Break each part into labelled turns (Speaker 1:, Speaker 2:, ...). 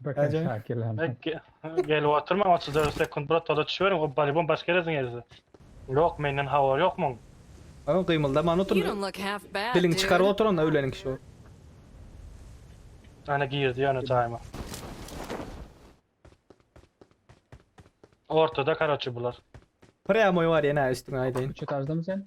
Speaker 1: Bakan şakir lan. Gelip oturmaň otuz dört sekunt brat toza düşüberiň o balibon baş gereziň erisi. Yok menden habar yok muň. Oň gymyldaman otur diliňi çykaryp otur onda öýleniň kişi bolup. Ana girdi ýöne jaýyma. Ortada karoçi bular. Prýamoý bar ýene üstüňe aýdaýyn. Köçe tarzamy sen?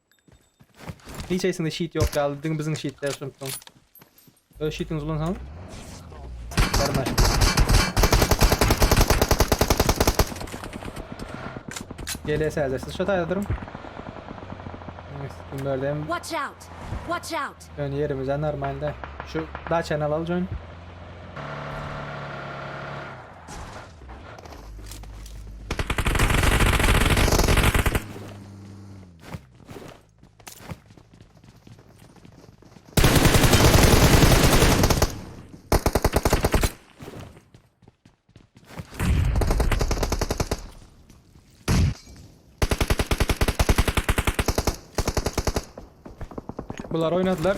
Speaker 1: Hiç eýsinde şit ýok ýaly, diňe biziň şitde ýaşanyp soň. Öz şitiňizi ulansaň. Barma. Gele sälde siz şu taýda duruň. Kim berdem? Watch out. Watch out. Ön ýerimizden normalde. Şu daçany alalım join. Bunlar oynadılar.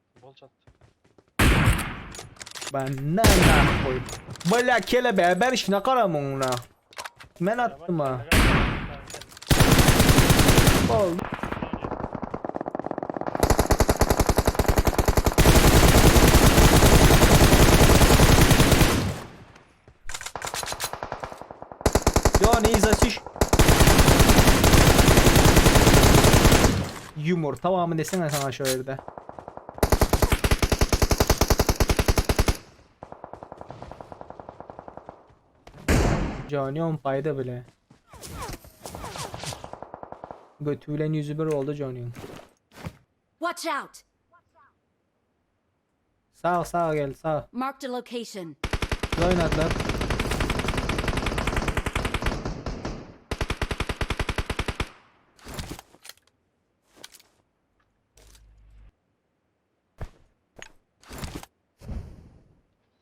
Speaker 1: Bol çat. Ben ne ne koy. Bala kele be ben işine karam onuna. Men attım ha. Bol. Ýo nize çüş. Ýumur towamy desene saňa şo ýerde. Jonyom paýda bile. Götü bilen ýüzi bir boldy Jonyň. Watch out. Sag sag geldi sag. Marked a location. Biz oýnadylar.